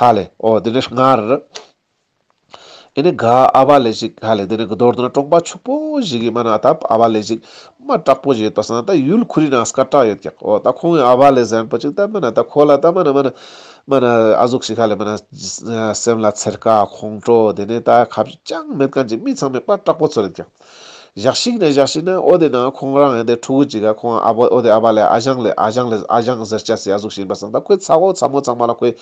ཧ་ལས། ཨོ། དེ་ནས་སྔར། ཨེ་ནི་ག། ཨ་བ་ལས་ཤིག། ཧ་ལས། དེ་ནས་གི་དོར་དུ་ན་སྤྲོག་པ་ཕྱུག་པོ་ཞིག་གིས་སྨྲ་ན་ད། ཨ་བ་ལས་ཤིག། མ་སྐྲག་པོ་ཞིག་ཡོད་པ་སང་ད་ཡུལ་ཁུ་རི་ན་སྐར་སྐྲག་ཡོད་ཀྱང། ཨོ། ད་ཁོང་གིས་ཨ་བ་ལས་གཟན་པོ་ཅིག་ད་སྨྲ་ན་ད་ཁོ་ལ་ད་སྨྲ་ན་སྨྲ་ན། སྨྲ་ན། ཨ་ཟུག་ཤིག་ཧ་ལས་སྨྲ་ན། སེམས་ལ་འཚེར་དཀའ་ཁོང་ཁྲོ། དེ་ནས་ད་ཁ་བྱུས་ཅང་མེད་གང་ཅིག་མི་ཚང་མས་དཔའ་སྐྲག་པོ་ཚོ་རེད་ཀྱང། བཞག་ཤིག་ནས་བཞག་ཤིག་ནས་ཨོ་དེ་ན་ཁོང་རང་ཡང་དེ་ཕྲུ་གུ་གཅིག་ག་ཁོང་ཨ་ཕོ་ཨོ་དེ་ཨ་ཕ་ལས་ཨ་ཞང་ལས་ཨ་ཞང་ལས་ཨ་ཞང་ཟེར་སྐྱ་སེ་ཡ་གཟུགས་བཞིན་པ་བཟང་ད་ཁོའི་ཚ་ཁོག་ཚ་མོ་ཚང་མ་ལ་ཁོས་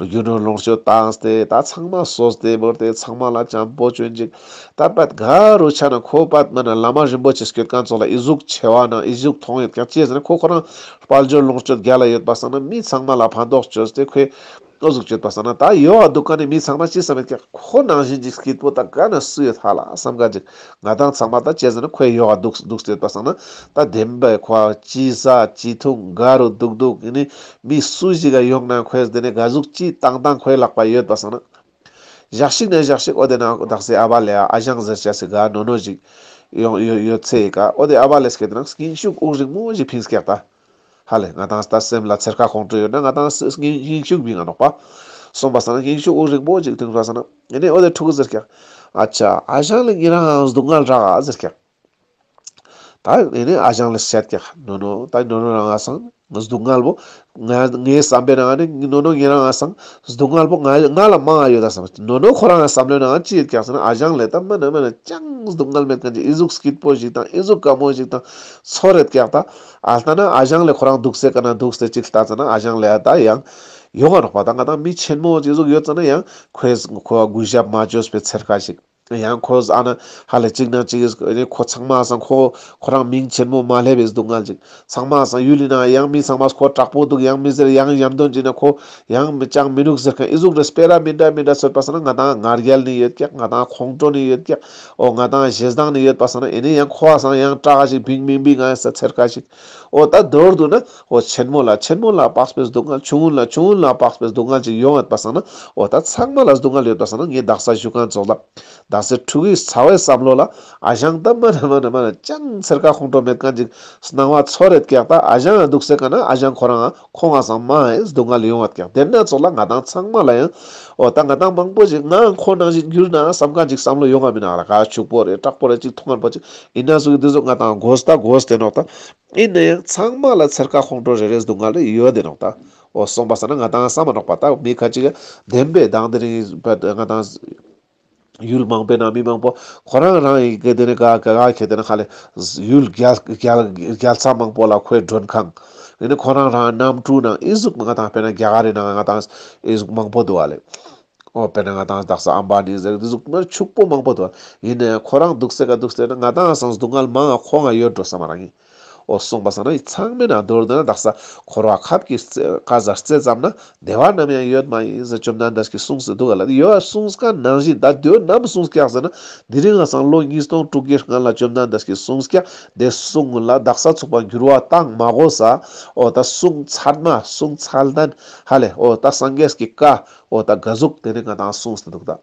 རྒྱུ་ནོར་ལོངས་སྤྱོད་བཏང་སྟེ་ད་ཚང་མ་སོས་ཏེ་བོར་ཏེ་ཚང་མ་ལ་བྱམས་པོ་བྱོས་འཇིག་ད་པད་དགའ་རུ་ཆགས་ན་ཁོ་པད་མ་ན་བླ་མ་རིན་པོ་ཆེ་སྐྱོད་གང་ཚོགས་ལ་ཨི་གཟུགས་ཆེ་བ་ན་ཨི་གཟུགས་ཐོང་ཡོད་ཀྱང་སྐྱེས་ཟེར་ན་ཁོ་ཁོ་རང་དཔལ་འབྱོར་ལོངས་སྤྱོད་རྒྱ་ལ་ཡོད་པ་བཟང་ན་མི་ཚང་མ་ལ་ཕན་ཐོགས་བྱོས་ཏེ་ཁོས་བློ་གཟུགས་བསྐྱོད་པ་བསམ་ན་ད་ཡོད་བ་སྡུག་ག་ནས་མི་ཚང་མ་ཅི་བསམ་ཡོད་ཀྱང་ཁོ་ནང་བཞིན་གྱི་སྐྱིད་པོ་དག་ག་ནས་བསུ་ཡོད་ཧ་ལ་བསམ་ག་ཅིག་ང་དང་ཚང་མ་ད་བྱས་ཟིན་ན་ཁོས་ཡོད་བ་སྡུག་སྡུག་བསྐྱོད་པ་བསམ་ན་ད་བདེན་པའི་ཁོ་བ་ཅི་ཟ་ཅི་འཐུང་དགའ་རུ་སྡུག་སྡུག་གི་ནི་མི་སུ་ཞིག་ག་ཡོང་ན་ཁོས་དེ་ནས་དགའ་གཟུགས་སྐྱིད་སྟངས་དང་ཁོའི་ལག་པ་ཡོད་པ་བསམ་ན་བཞག་ཤིག་ནས་བཞག་ཤིག་ཨོ་དེ་ན་བདག་སའི་ཨ་བ་ལས་ཨ་ཞང་ཟེར་བྱ་སི་ག་ནོ་ནོ་ཞིག་ཡོང་ཡོད་ཡོད་ཚེ་ག་ཨོ་དེ་ཨ་བ་ལས་སྐད་དེ་ན་སྐྱིན་ཤུགས་དབུགས་རིང་མོ་ཞིག་ཕིན་སྐད་ད། ཧ་ལས་ང་དང་ལྟ་སེམས་ལ་ཚེར་ཁ་ཁོང་ཁྲོ་ཡོད་ན་ང་དང་སུ་ངན་ཞིང་ཤུགས་མི་ང་ནོག་པ། གསུངས་པ་སངས་ཞིང་ཤུགས་དབུགས་རིང་པོ་ཅིག་ལྡིང་རོགས་ཟེར་ན། ཡེ་ནས་ཨོ་ལེ་ཕྲུ་གུ་ཟེར་ཀྱང། ཨ་ཅག་ཨ་ཞང་ལས་ངེད་རང་སྡུག་བསྔལ་རག་ཨ་ཟེར་ཀྱང། ད་ཡེ་ནས་ཨ་ཞང་ལ་བཤད་ཀྱང་ནོ་ནོ་ད་ནོ་ནོ་རང་ཨ་སང་སྡུག་བསྔལ་བོ། ངའི་ངའི་བསམ་པའི་ནང་ནས་ནོ་ནོ་ངེད་རང་ཨ་སང་སྡུག་བསྔལ་བོ་ང་ང་ལ་མང་ཨ་ཡོད་ད་བསམ་ནོ་ནོ་ཁོ་རང་བསམ་བློའི་ནང་ཅི་ཡོད་ཀྱང་ཟེར་ན་ཨ་ཞང་ལས་ད་མིན་ན་མིན་ན་ཅང་སྡུག་བསྔལ་མེད་མཁན་གྱི་ཨི་གཟུགས་སྐྱིད་པོ་ཞིག་དང་ཨི་གཟུགས་དཀར་མོ་ཞིག་དང་ཚོ་རེད་ཀྱང་ད། ཨ་ལྟ་ན་ཨ་ཞང་ལས་ཁོ་རང་འདུག་སའི་ཀ་ན་འདུག་སྟེ་གཅིག་ལྟ་ཙེ་ན་ཨ་ཞང་ལས་ཨ་ལྟ་ཡང་ཡོང་ཨ་རོག་པ་ད་ང་དང་མི་ཆེན་མོ་གཅིག་གཟུགས་ཡོད་ཙེ་ན་ཡང་ཁོས་ཁོ་ཨ་གུས་ཞབས་མ་བཅོས་པའི་ཚེར་ཁ་ཞིག་ཡང་ཁོས་ཨ་ན་ཧ་ལས་གཅིག་ན་གཅིག་ཨ་ཁོ་ཚང་མ་སང་ཁོ་ཁོ་རང་མིང་ཆེན་མོ་མ་ལྷས་པའི་སྡུག་བསྔལ་ཅིག་ཚང་མ་སང་ཡུལ་ཡིན་ན་ཡང་མི་ཚང་མ་ཁོ་དྲག་པོ་འདུག་ཡང་མི་ཟེར་ཡང་ཡམ་དོན་གཅིག་ན་ཁོ་ཡང་ཅང་མི་འདུག་ཟེར་མཁན་ཨི་གཟུགས་རེད་སྤེ་ར་མི་འདྲ་མི་འདྲ་ཚོད་པ་ཟེར་ན་ང་དང་ངར་རྒྱལ་ནི་ཡོད་ཀྱག་ང་དང་ཁོང་ཀྲོ་ནི་ཡོད་ཀྱག། ཨོ་ང་དང་བཞེས་སྡང་ནི་ཡོད་པ་བསམ་ན་ཨེ་ནི་ཡང་ཁོ་བ་སང་ཡང་སྐྲག་ཅིག་བིང་མིང་བིང་ང་ཡང་ཟེར་ཚེར་ཁ་ཅིག་ཨོ་ད་མདོར་བསྡུ་ན་ཨོ་ཆེན་མོ་ལ་ཆེན་མོ་ལ་དཔགས་པའི་སྡུག་བསྔལ་ཆུང་ངུ་ལ་ཆུང་ངུ་ལ་དཔགས་པའི་སྡུག་བསྔལ་ཅིག་ཡོད་ཨེ་པ་བསམ་ན་ཨོ་ད་ཚགས་མ་ལ་སྡུག་བསྔལ་ཡོད་པ་བསམ་ན་ངའི་བདག་ས་བཞུགས་ཁང་རྫོགས་ལ་བདག་སའི་ཕྲུ་གུའི་ཚ་བའི་བསམ་བློ་ལ་ཨ་ཞང་ད་མ་ན་མ་ན་མ་ན་ཅང་ཚེར་ཁ་ཁོང་ཁྲོ་མེད་གང་ཅིག་སྣང་བ་ཚོར་རེད་ཀྱག་ད་ཨ་ཞང་སྡུག་སེ་ག་ན་ཨ་ཞང་ཁོ་རང་ཁོ་ང་ཟང་མ་ཨེས་སྡུག་བསྔལ་ཡོང་བ་དགག་དེ་སྣ་ཚོགས་ལ་ང་དང་ཚང་མ་ལ་ཡང་འོ་ད་ང་དང་མང་པོ་ཞིག་ང་ཁོ་ནང་བཞིན་འགྱུར་ན་བསམ་ག་འཇིག་བསམ་བློ་ཡོང་ག་མི་ན་ར་ག་ཕྱུག་པོ་རེད་སྐྲག་པོ་རེད་ཅིག་ཐུང་ངར་པོ་ཅིག་ཡིན་ན་ཟུག་འདི་ཟུག་ང་དང་དགོས་ད་དགོས་དེ་ནོག་ད་ཨིན་ན་ཡང་ཚང་མ་ལ་ཚེར་ཁ་ཁོང་ཁྲོ་རེ་རེ་སྡུག་བསྔལ་རེ་ཡོད་དེ་ནོག་ད་འོ་སོང་པ་ཟེར་ན་ང་དང་ཟང་མ་ནོག་པ་ད་མི་ཁ་ཅིག་བདེན་པའི་གདངས་དེ་རིང་བལ་ང་དང། ཡུལ་མང་པོའི་ནང་མི་མང་པོ་ཁོ་རང་རང་ཡི་གེ་དེ་ནས་ག་ག་ག་ཁྱེར་དེ་ནས་ཧ་ལས། ཡུལ་རྒྱལ་ཚ་མང་པོ་ལ་ཁོའི་མགྲོན་ཁང། དེ་ནས་ཁོ་རང་རང་གནམ་གྲུའི་ནང་ཨི་གཟུགས་ང་དང་དཔེར་ན་རྒྱ་གར་རི་ནང་ང་དང་ཨི་གཟུགས་མང་པོ་འདུག་ཨ་ལས། ཨོ་དཔེར་ན་ང་དང་སྡག་ས་ཨམ་བྷ་ནི་ཟེར་གི་དེ་གཟུགས་དམར་ཕྱུག་པོ་མང་པོ་འདུག་ཨ་ལས། ཡིན་ནའི་ཁོ་རང་སྡུག་སེ་ག་སྡུག་སེ་ན་ང་དང་སང་སྡུག་བསྔལ་མང་ཨ་ཁོ་ང་ཡོད་འགྲོ་ས་མ་རང་ཡིན། འོ་གསུངས་པ་ས་ན་ཡི་ཚང་མེད་ན་རྡོར་དང་བདག་ས་འཁོར་བ་ཁབ་ཀྱི་ཀ་བཟའ་རྩེ་ཙམ་ན་བདེ་བ་ནམ་ཡང་ཡོད་མ་ཡིན་ཟེར་བཅོམ་ལྡན་འདས་ཀྱིས་གསུངས་ཟིན་འདུག་ག་ལ་དེ་ཡོད་གསུངས་སྐད་ནང་བཞིན་ད་དུས་ནམ་གསུངས་སྐད་ཟེར་ན་འདི་རིང་ང་སང་ལོ་ཉིས་སྟོང་དྲུག་བརྒྱའི་སྔ་ལ་བཅོམ་ལྡན་འདས་ཀྱིས་གསུངས་སྐད་དེ་གསུངས་ལ་བདག་ས་ཚུགས་པ་འགྱུར་བ་བཏང་མ་གོ་ས་འོ་ད་གསུངས་ཚར་མ་གསུངས་ཚར་ལྡན་ཧ་ལས་འོ་ད་སངས་རྒྱས་ཀྱི་བཀའ་འོ་ད་དགའ་གཟུགས་དེ་ནས་ང་དང་གསུངས་ཟིན་འདུག་ད།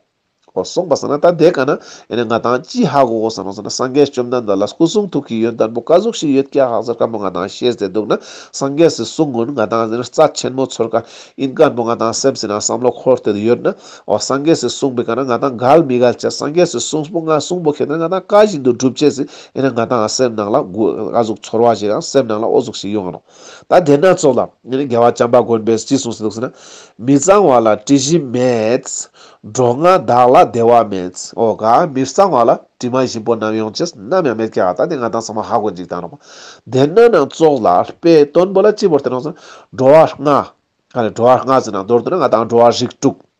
ཨོ་གསུངས་པ་ཟེར་ན་ད་དེ་ག་ན་ཡིན་ནས་ང་དང་ཅི་ཧ་གོ་གོ་ཟེར་ནོ་ཟེར་ན་སངས་རྒྱས་བཅོམ་ལྡན་འདས་ལ་སྐུ་གསུང་ཐུགས་ཀྱི་ཡོན་ལྟར་བུ་བཀའ་ཟུག་ཞིག་ཡོད་སྐྱ་ཧག་ཟེར་བཀའ་མོ་ང་དང་བཤད་ཟེར་འདུག་ན་སངས་རྒྱས་སུ་གསུང་ངོ་ང་དང་ཟེར་ན་རྩ་ཆེན་མོ་ཚོར་ཀ་ཡིན་བཀའ་མོ་ང་དང་སེམས་ཟིན་ན་བསམ་བློ་འཁོར་དེ་དུ་ཡོད་ན་ཨོ་སངས་རྒྱས་སུ་གསུངས་པའི་ག་ན་ང་དང་འགལ་མི་འགལ་བྱས་སངས་རྒྱས་སུ་གསུངས་པོ་ང་གསུངས་པོ་ཁེ་དེ་ན་ང་དང་ཀ་བཞིན་དུ་སྒྲུབ་བྱེད་ཟིན་ཡིན་ན་ང་དང་སེམས་ནང་ལ་བུ་བཀའ་ཟུག་ཚོར་བ་ཞིག་ཨང་སེམས་ནང་ལ་ཨོ་ཟུག་ཞིག་ཡོང་ཨང། ད་དེ་སྣ་ཚོགས་ལ་རྒྱལ་བ་བྱམས་པ་མགོན་པོས་ཅི་གསུངས་ཟེར་ན། མི་གཙང་བ་ལ་དྲི་བཞི་མེད། འགྲོ་ལྔ་བདག་ལ་བདེ་བ་མེད། ཨོ་ག་མི་གཙང་བ་ལ་དྲི་མ་བཞི་པོ་ནམ་ཡོང་ཅིས་ནམ་ཡང་མེད་ཀྱ་ད་དེ་ང་དང་ཚང་མ་ཧ་གོ་འཇིག་དང་རོགས་པ། དེ་སྣ་སྣ་ཚོགས་ལ་དཔེ་སྟོན་པོ་ལ་སྤྱི་བོར་བསྟན་རོགས་ཟེར་ན། འགྲོ་བ་ལྔ། འགྲོ་བ་ལྔ་ཟེར་ན་མདོར་བསྡུ་ན་ང་དང་འགྲོ་བ་རིགས་དྲུག།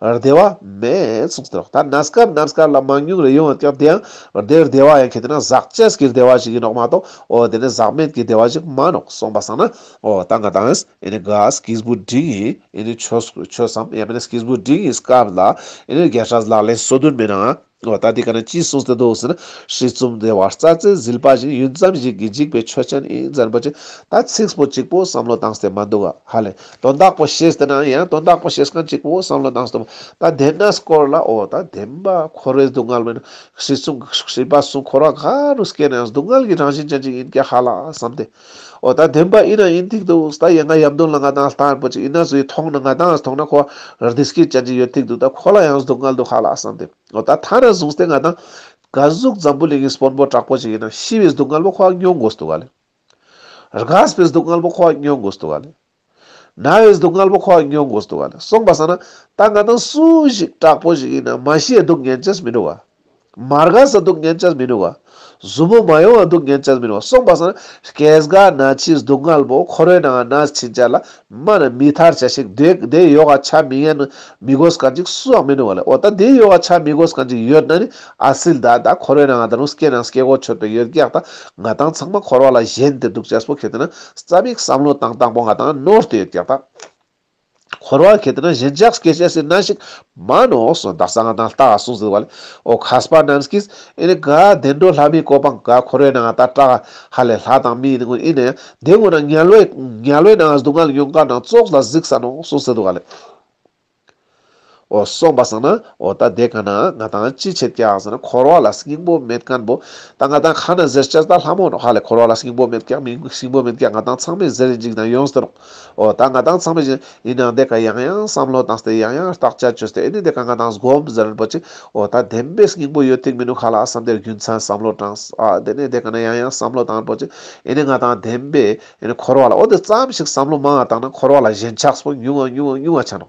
བདེ་བ་མེད། ད་ནཱ་སྐར་ནཱ་སྐར་ལ་མང་ཉུང་རེ་ཡོང་བའི་སྐབས་དེ་ཡང་བདེ་བདེ་བ་ཡང་གལ་ཏེ་ན་ཟག་བཅས་ཀྱི་བདེ་བ་ཞིག་ཡིན་ནོ་མ་གཏོགས་འོ་དེ་ནས་ཟག་མེད་ཀྱི་བདེ་བ་ཞིག་མ་ནོ་གསུངས་པ་སང་ན་འོ་ད་ང་དང་ག་སྐིས་བུ་འབྲིང་ཡིན་ཆོས་སམ་ཡང་མིན་སྐིས་བུ་འབྲིང་ཡིན་སྐབས་ལ་རྒྱལ་ཁྲ་ལག་ལེན་སོ་བདུན་མེད་ན། ཨོ་ད་འདི་ག་ནས་ཅི་གསུངས་ཟེར་འདུག་ཟེར་ན། ཧྲིལ་བཙུམ་དེ་བར་རྩ་རྩེ་ཟིལ་པ་བཞིན་ཡུན་ཙམ་ཞིག་གིས་འཇིགས་པའི་ཆོས་ཅན་ཨིན་ཙན་པོ་ཆེ་ད་ཚིགས་པོ་གཅིག་པོ་བསམ་བློ་བཏང་སྟེ་མ་འདུག་ཧ་ལས་དོན་དག་པོ་བཤད་ཟེར་ན་ཡང་དོན་དག་པོ་བཤད་སྐབས་གཅིག་པོ་བསམ་བློ་བཏང་སྟེ་མ་ད་བདེན་ན་སྐོར་ལ་ཨོ་ད་བདེན་པ་འཁོར་བའི་སྡུག་བསྔལ་མིན། ཧྲིལ་བཙུམ་ཧྲིལ་པ་སུ་འཁོར་བ་ག་རུ་སྐྱེས་ནའང་སྡུག་བསྔལ་གྱི་རང་བཞིན་ཅན་ཅིག་ཡིན་སྐད་ཧ་ལ་བསམ་སྟེ། འོ་ད་དེམ་པ་ཨི་ན་ཨིན་ཐིག་འདུག་ཟ་ད་ཡ་ང་ཡབ་མདུན་ལ་ང་དང་ལྟ་འར་པོ་ཅིག་ཨི་ན་ཟུ་ཡི་ཐོང་ན་ང་དང་ཨ་ཟི་ཐོང་ན་ཁོ་ར་དི་སྐིད་ཅན་ཅིག་ཡོད་ཐིག་འདུག་ད་ཁོ་ལ་ཡང་སྡུག་བསྔལ་འདུག་ཧ་ལ་ཨ་སང་དེ་འོ་ད་ད་ན་བཟུང་སྟེ་ང་དང། ག་གཟུགས་འཛམ་བུ་གླིང་གི་སྤོན་པོ་དྲག་པོ་ཅིག་ཡིན་ན་ཤི་བའི་སྡུག་བསྔལ་པོ་ཁོ་ཨ་སྙོག་དགོས་སྡུག་ག་ལེ། ར་ག་ཟི་པའི་སྡུག་བསྔལ་པོ་ཁོ་ཨ་སྙོག་དགོས་སྡུག་ག་ལེ། ན་བའི་སྡུག་བསྔལ་པོ་ཁོ་ཡང་མྱོང་དགོས་སུ་འདུག་ག་ལ་སོང་བ་ཟེར་ན་ད་ང་དང་སུ་ཞིག་དྲག་པོ་ཞིག་ཡིན་ན་མ་ཤེས་སྡུག་བསྔལ་ཅེས་མི་འགྲོ་བ། མ་དགའ་ས་སྡུག་བསྔལ་ཅེས་མི་འགྲོ་བ། གཟུ་མོ་མ་ཡོང་བ་སྡུག་བསྔལ་ཅེས་མི་འགྲོ་བ་སོང་བ་ཟེར་ན་སྐྱེས་སྒ་ན་འཆིའི་སྡུག་བསྔལ་པོ་ཁོ་རོའི་ནང་ན་འཆི་འཇའ་ལ་མ་ན་མི་ཐར་བྱ་ཞིག་དེ་ཡོ་ག་བྱ་མི་ཡན་ན་མི་དགོས་ག་འཇིག་སུ་ཡང་མི་འགྲོ་བ་ལས་འོ་ད་དེ་ཡོ་ག་བྱ་མི་དགོས་ག་འཇིག་ཡོད་ན་ནི་ཨ་སིལ་ད་ད་ཁོ་རོའི་ནང་ད་རུང་སྐྱེས་ན་སྐྱེས་སྒོ་ཆོད་པའི་ཡོད་རྒྱག་ད་ང་དང་ཚང་མ་འཁོར་བ་ལ་གཞན་དེ་སྡུག་ཅེས་པོ་ཁེལ་ཏེ་ན། རྩ་མིག་བསམ་བློ་དང་དང་པོ་ང་དང་ནོར་ལྟའི་རྒྱབ་ཁ། འཁོར་བར་གལ་ཏེ་ན་གཞན་ཇག་སྐད་བཤད་སའི་སྣ་ཞིག་མ་ནོགས་སོ་འདག་ས་ང་དང་སྟག་གསུང་ཟིལ་བ་ལས་ཨོ་ཁ་སྤ་ནམ་སྐིས་ཨེ་ནི་ག་བདེ་འགྲོ་ལྷ་མིའི་གོ་འཕང་ག་འཁོར་བའི་ནང་ཨ་ཏག་ཏག་ཧ་ལས་ལྷ་དང་མིའི་ནང་ཨེ་ནི་དེ་ངོ་ན་ཉལ་བའི་ཉལ་བའི་ནང་སྡུག་བསྔལ་ཡོང་ག་ནང་བཙོག་ལ་གཟིགས་ས་ནོགས་སོ་ཟིལ་བ་ལས། འོ་སོགས་པ་བསགས་ན་འོ་ད་དེ་ག་ནའང་ང་དང་ཅི་བྱེད་ཀྱང་ཟེར་ན་འཁོར་བ་ལ་སྙིང་པོ་མེད་སྐམ་པོ་ད་ང་དང་ག་ན་ཟེར་ལྕགས་རྟ་ལྷ་མོ་ཧ་ལས་འཁོར་བ་ལ་སྙིང་པོ་མེད་སྐམ་མིན་སྙིང་པོ་མེད་སྐམ་ང་དང་ཚང་མས་ཟེར་རེ་འཇིགས་དང་ཡོངས་སུ་རུང་འོ་ད་ང་དང་ཚང་མས་ཇི་ཡིན་ནའང་དེ་ག་ཡང་ཡང་བསམ་བློ་བཏང་སྟེ་ཡང་ཡང་བརྟག་དཔྱད་བྱོས་སྟེ་འོ་ནི་དེ་ག་ང་དང་སྒོམ་ཟེར་རིན་པོ་ཆེ་འོ་ད་བདེན་པའི་སྙིང་པོ་ཡོད་ཐིག་མིན་འདུག་ག་ལ་བསམ་དེར་རྒྱུ་མཚན་བསམ་བློ་དྲངས་ཨ་དེ་ནས་དེ་ག་ནས་ཡང་ཡང་བསམ་བློ་བཏང་རིན་པོ་ཆེ་འོ་ནི་ང་དང་བདེན་པའི་ཡིན་ནི་འཁོར་བ་ལ་འོ་དེ་ཙམ་ཞིག་བསམ་བློ་མང་ང་བཏང་ན་འཁོར་བ་ལ་ཞེན་ཆགས་སོགས་ཉུང་ང་ཉུང་ང་ཉུང་ང་ཆགས་ནོ།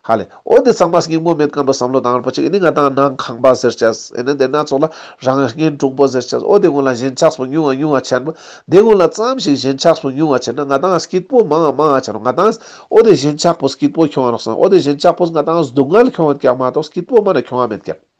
ཧ་ལས་འོ་དེ་ཙམ་མ་ཞིག་གིས་དངོས་མེད་སྐམ་པོ་བསམ་བློ་བཏང་བར་པོ་ཆེ་ཡིན་ནི་ང་དང་ནང་ཁང་པ་ཟེར་བྱས་ཡིན་ནི་དེ་སྣ་ཚོགས་ལ་རང་བཞིན་འབྲུག་པོ་ཟེར་བྱས་འོ་དེ་ཀུན་ལ་ཞེན་ཆགས་སོགས་ཉུང་ང་ཉུང་ང་ཆགས་ནི་དེ་ཀུན་ལ་ཙམ་ཞིག་ཞེན་ཆགས་སོགས་ཉུང་ང་ཆགས་ན་ང་དང་སྐྱིད་པོ་མང་ང་མང་ང་ཆགས་ནོ་ང་དང་འོ་དེ་ཞེན་ཆགས་པོ་སྐྱིད་པོ་ཁྱོད་རང་རོགས་སམ་འོ་དེ་ཞེན་ཆགས་པོ་ང་དང་སྡུག་བསྔལ་ཁྱོད་རང་ཀྱང་མ་གཏོགས་སྐྱིད་པོ་སྨྲ་ནི་ཁྱོད་རང་མེད་ཀྱང།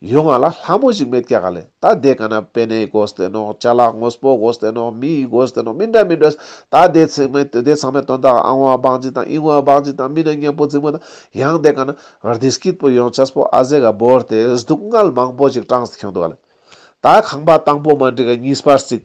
ཡོ་ང་ལ་ལྷ་མོ་ཞིག་མེད་ཀྱ་ག་ལེ་ད་དེ་ག་ན་པེ་ནའི་གོ་ས་ཏེ་ནོག་ཅ་ལག་ངོས་པོ་གོ་ས་ཏེ་ནོག་མི་ཡི་གོ་ས་ཏེ་ནོག་མི་འདྲ་མི་འདྲ་ད་དེ་ཚང་མའི་དེ་ཚང་མའི་དོན་དག་ཨང་བ་སྦག་འཇིག་དང་ཨིང་བ་སྦག་འཇིག་དང་མི་ནས་གཉེན་པོ་རྫིག་མོ་དང་ཡང་དེ་ག་ན་རྡི་སྐྱིད་པོ་ཡོང་ཆ་ས་པོ་ཨ་ཟེ་ག་བོར་ཏེ་སྡུག་བསྔལ་མང་པོ་ཞིག་སྐྲངས་སུ་ཁྱུང་འདུག་ག་ལེ་ད་ཁང་པ་དང་པོ་མ་འགྲིག་ག་གཉིས་པར་རྩིག།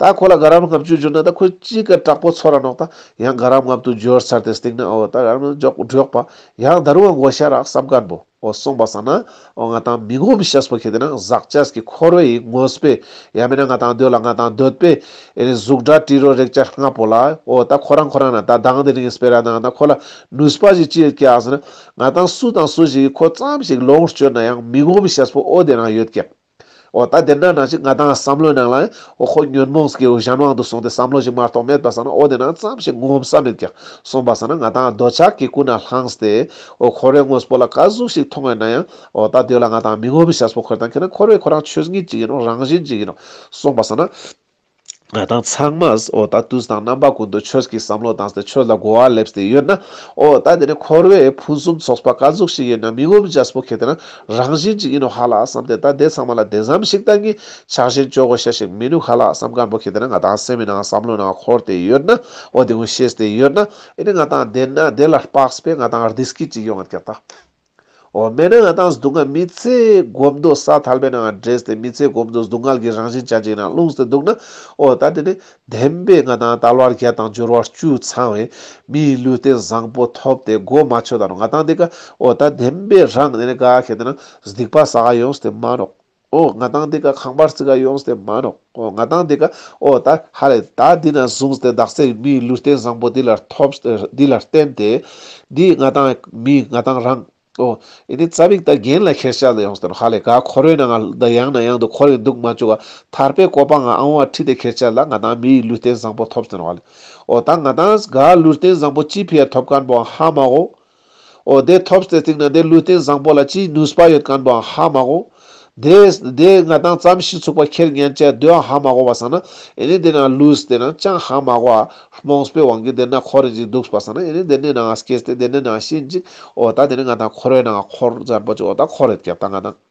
ད་ཁོ་ལ་དགའ་རབ་ལྔ་བཅུ་བསྒྱུར་ན་ད་ཁོས་ཅི་དགར་དྲག་པོ་ཚོར་ར་ནོག་ད་ཡང་དགའ་རབ་ལྔ་བདུན་བསྒྱུར་ཚར་ཏེ་སྟེང་ན་འོ་ད་ར་ནོག་འཇོག་སྒྲོག་པ་ཡང་ད་རུང་བསྒོ་ཤ་རག་སྲབ་གར་འབོ་འོ་སོང་བ་ས་ན་འོ་ང་དང་མི་ངོ་མི་ཤེས་པོ་ཁྱེད་དེ་ན་ཟག་བཅས་ཀྱི་འཁོར་བའི་ཡིག་ངོས་པས་ཡ་མེད་ན་ང་དང་སྡོད་ལ་ང་དང་སྡོད་པས་ཨེ་རེད་གཟུགས་འདྲ་བཀྲིས་རོ་རེག་བཅར་ལྔ་པོ་ལ་འོ་ད་ཁོ་རང་ཁོ་རང་ན་ད་སྡང་དེ་རིང་སྤེལ་ར་ནང་ད་ཁོ་ལ་ནུས་པ་ཞིག་ཅི་ཡོད་སྐྱེ་ཟེར་ན་ང་དང་སུ་དང་སུ་ཞིག་གིས་ཁོ་ཙམ་ཞིག་ལོངས་སྤྱོད་ན་ཡང་མི་ངོ་མི་ཤེས་པོ་འོ་དེ་རང་ཡོད་སྐད། འོ་ད་དེ་འདྲ་ན་ཅིག་ང་དང་བསམ་བློའི་ནང་ལ་འོ་ཁོ་ཉོན་མོངས་ཀྱི་གཞན་དབང་དུ་སོང་སྟེ་བསམ་བློ་ཞིག་མ་རྟོགས་མེད་པ་ཟ་ན་འོ་དེ་ན་ཙམ་ཞིག་ངོམ་ས་མེད་ཀྱང་སོང་བ་ཟ་ན་ང་དང་འདོད་ཆགས་ཀྱི་སྐུ་ན་ལྷངས་སྟེ། འོ་ཁོ་རེ་དངོས་པོ་ལ་དཀའ་གཟུགས་ཤིག་མཐོང་བས་ན་ཡང་འོ་ད་དུས་ལ་ང་དང་མི་ངོམ་ཤ་སོགས་ཁོལ་དང་ཁེལ་ན་ཁོ་རེ་ཁོ་རང་ཆོས་ཉིད་ཅིག་ཡིན་ནོ་རང་བཞིན་ཅིག་ཡིན་ནོ་སོང་བ་ཟ་ན། ང་དང་ཚང་མས་ཨོ་ད་དུས་དང་རྣམ་པ་ཀུན་ཏུ་ཆོས་ཀྱི་བསམ་བློ་བཏང་སྟེ་ཆོས་ལ་དགོ་བ་སླེབས་སྟེ་ཡོད་ན། ཨོ་ད་དེ་ནི་འཁོར་བའི་ཕུན་སུམ་ཚོགས་པ་དཀའ་གཟུགས་ཤིག་ཡིན་ན་མི་ངོམ་རྒྱ་སྤུ་གས་དེ་ནི་རང་བཞིན་ཅིག་ཡིན་ནོ་ཧ་ལ་བསམ་སྟེ་ད་དེ་ཚང་མ་ལ་དེ་ཙམ་ཞིག་བཏང་གིན་ཆགས་བཞིན་སྤྱོད་སྒོ་བྱེད་ཞིག་མི་ནུས་ཧ་ལ་བསམ་དཀར་པོ་གས་དེ་ནི་ང་དང་སེམས་ནང་བསམ་བློའི་ནང་འཁོར་ཏེ་ཡོད་ན་ཨོ་དེ་ཀུན་ཤེས་ཏེ་ཡོད་ན་ཨེ་ནི་ང་དང་དེ་ནི་དེ་ལ་སྤགས་པས་ང་དང་རྡིས་སྐྱིད་ཅིག་ཡོང་ངེས་ཀྱི་རྟགས། འོ་མེད་ན་ང་དང་སྡུག་བསྔལ་མི་ཚེ་སྒོམ་མདོ་ས་ཐལ་པའི་ནང་ལ་འདྲེས་ཏེ་མི་ཚེ་སྒོམ་མདོ་སྡུག་བསྔལ་གྱི་རང་བཞིན་ཅད་ཅིག་ན་ལྷུང་སྟེ་འདུག་ན་འོ་ད་དེ་ནས་བདེན་པའི་ང་དང་ལྟ་བར་བརྒྱད་དང་སྦྱོར་བ་བཅུ་ཚང་བའི་མིའི་ལུས་རྟེན་བཟང་པོ་ཐོབ་སྟེ་སྒོ་མ་ཆོད་ད་རུང་ང་དང་དེ་ཀ་འོ་ད་བདེན་པའི་རང་གནས་ནས་ག་གེ་དེ་ན་སྡིག་པ་ཟ་ག་ཡོང་སྟེ་མ་རོགས། ཨོ་ང་དང་འདི་ཀ་ཁང་པར་བརྩི་ག་ཡོངས་དེ་མ་ནོག་ཨོ་ང་དང་འདི་ཀ་ཨོ་ད་ཧ་རེ་ད་འདི་ན་བཟུང་སྟེ་བདག་སའི་མིའི་ལུས་རྟེན་བཟང་པོ་འདི་ལ་ཐོབ་འདི་ལ་བརྟེན་ཏེ། འདིས་ང་དང་མི་ང་དང་རང་ཨོ་ཨེ་ནི་རྩ་བིག་ད་རྒན་ལ་ཁེར་ཆགས་ད་ཡོངས་དེ་ཧ་ལས་ག་ཁོ་རོའི་ན་ང་ད་ཡང་ན་ཡང་དུ་ཁོ་རེ་འདུག་མ་བཅུག་ག་ཐར་པའི་གོ་པང་ང་ཨང་བ་ཁྲི་དེ་ཁེར་ཆགས་ལ་ང་དང་མིའི་ལུས་རྟེན་བཟང་པོ་ཐོབ་དེ་ཧ་ལས་ཨོ་ད་ང་དང་ག་ལུས་རྟེན་བཟང་པོ་ཅི་ཕི་ཡ་ཐོབ་ག་འབོ་ཧ་མ་ཨོ་ཨོ་དེ་ཐོབ་ཟེར་ཐིང་ན་དེ་ལུས་རྟེན་བཟང་པོ་ལ་ཅིའི་ནུས་པ་ཡོད་གང་དུའང་ཧ་མ་གོ། དེས་དེ་ང་དང་རྩམ་གཞི་ཚུགས་པ་ཁྱེར་ཉན་བཅས་དུའང་ཧ་མ་གོ་བ་བསམ་ན་ཨེ་ནི་དེ་ན་ལུས་དེ་ན་ཅང་ཧ་མ་གོ་ཨ། རྨོངས་པའི་དབང་གིས་དེ་ན་འཁོར་རེ་ཅིག་འདུག་བ་བསམ་ན་ཨེ་ནི་དེ་ནས་ནའང་སྐྱེས་ཏེ་དེ་ནས་ནའང་ཤི་འཇིག་ཨོ་ད་དེ་ནི་ང་དང་ཁོ་རོའི་ནང་ཁོར་བརྫར་པོ་ཅིག་ཨོ་ད་ཁོ་རེད་ཀྱང་ད་ང་དང།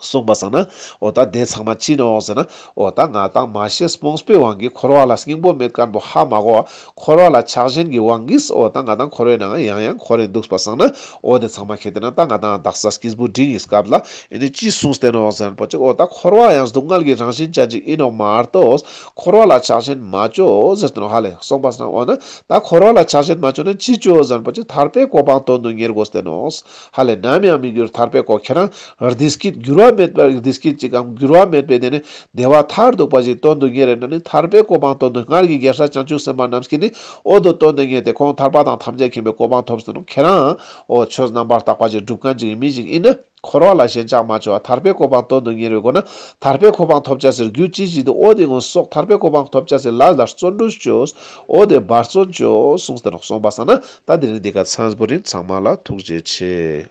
གསུངས་པ་བསམ་ན་ཨོ་ད་དེ་ཚང་མ་ཅི་ནས་འོང་ཟེར་ན་ཨོ་ད་ང་དང་མ་ཤེས་སྤོངས་པའི་བང་གིས་འཁོར་བ་ལ་སྙིང་པོ་མེད་སྐར་འབོ་ཧ་མ་གོ་འཁོར་བ་ལ་ཆགས་ཞེན་གྱི་བང་གིས་ཨོ་ད་ང་དང་འཁོར་བའི་ནང་ཡང་ཡང་འཁོར་རེ་འདུག་པ་བསམ་ན་ཨོ་དེ་ཚང་མ་གལ་ཏེ་ན་ད་ང་དང་རྡག་ས་སྐྱིད་པོ་འགྲིག་ཡིན་སྐབས་ལ་ཨེ་ནས་ཅི་གསུངས་བལྟས་ནས་འོང་ཟེར་ན་པོ་ཅིག་ཨོ་ད་འཁོར་བ་ཡང་སྡུག་བསྔལ་གྱི་རང་བཞིན་ཅན་ཅིག་ཡིན་ནོ་མ་གཏོགས་འཁོར་བ་ལ་ཆགས་ཞེན་མ་བཅོ་ཟེར་དུ་ནོ་ཧ་ལས་གསུངས་པ་བསམ་ཨོ་ན་ད་འཁོར་བ་ལ་ཆགས་ཞེན་མ་བཅོ་ན་ཅི་བཅོ་ཟེར་ན་པོ་ཅིག་ཐར་པའི་གོ་འཕང་དོན་དུ་གཉེར་དགོས་བལྟས་ནས་འོང་ཧ་ལས་ནམ་ཡང་མི་འགྱུར་ཐར་པའི་གོ་ཁྱེར་རང། རྡི་སྐད་འགྱུར་བ་མེད་པར་རྡི་སྐད་ཅིག་གམ་འགྱུར་བ་མེད་པའི་གནས་ནས་བདེ་བ་མཐར་གཏུགས་པ་ཞིག་སྟོན་དུ་ངེས་རེ་ན་ནི་ཐར་པའི་གོ་འཕང་སྟོན་དུས་སྔར་གྱི་གེ་སར་བྱང་ཆུབ་སེམས་དཔའ་རྣམས་ཀྱིས་ནི་ཨོ་དོ་སྟོན་དུ་ངེས་ཏེ་ཁོང་ཐར་པ་དང་ཐམས་ཅད་མཁྱེན་པའི་གོ་འཕང་ཐོབ་ཟིན་ནོ་ཁྱེད་རང་འོ་ཆོས་རྣམ་པར་དག་པ་ཅིག་སྒྲུབ་གང་ཅིག་ཡིན་མིན་ཞིག་ཡིན་ན་འཁོར་བ་ལ་ཞེན་ཆགས་མ་བྱོས་བ་ཐར་པའི་གོ་འཕང་སྟོན་དུ་ངེས་རེ་དགོས་ན་ཐར་པའི་གོ་འཕང་ཐོབ་བྱ་ཟེར་རྒྱུ་ཅི་ཞིག་ཏུ་ཨོ་དེ་སྔོན་སོགས་ཐར་པའི་གོ་འཕང་ཐོབ་བྱ་ཟེར་ལ་ལར་བརྩོན་འགྲུས་བཅོས། ཨོ་དེ་བར་བརྩོན་བཅོས་གསུངས་ཟེར་ནོ་གསུངས་པ་བསམ་ན་ད་འདིར་འདི་ག་ཚངས་པོ་རིགས་ཚང་མ་ལ་ཐུགས་རྗེ་ཆེ།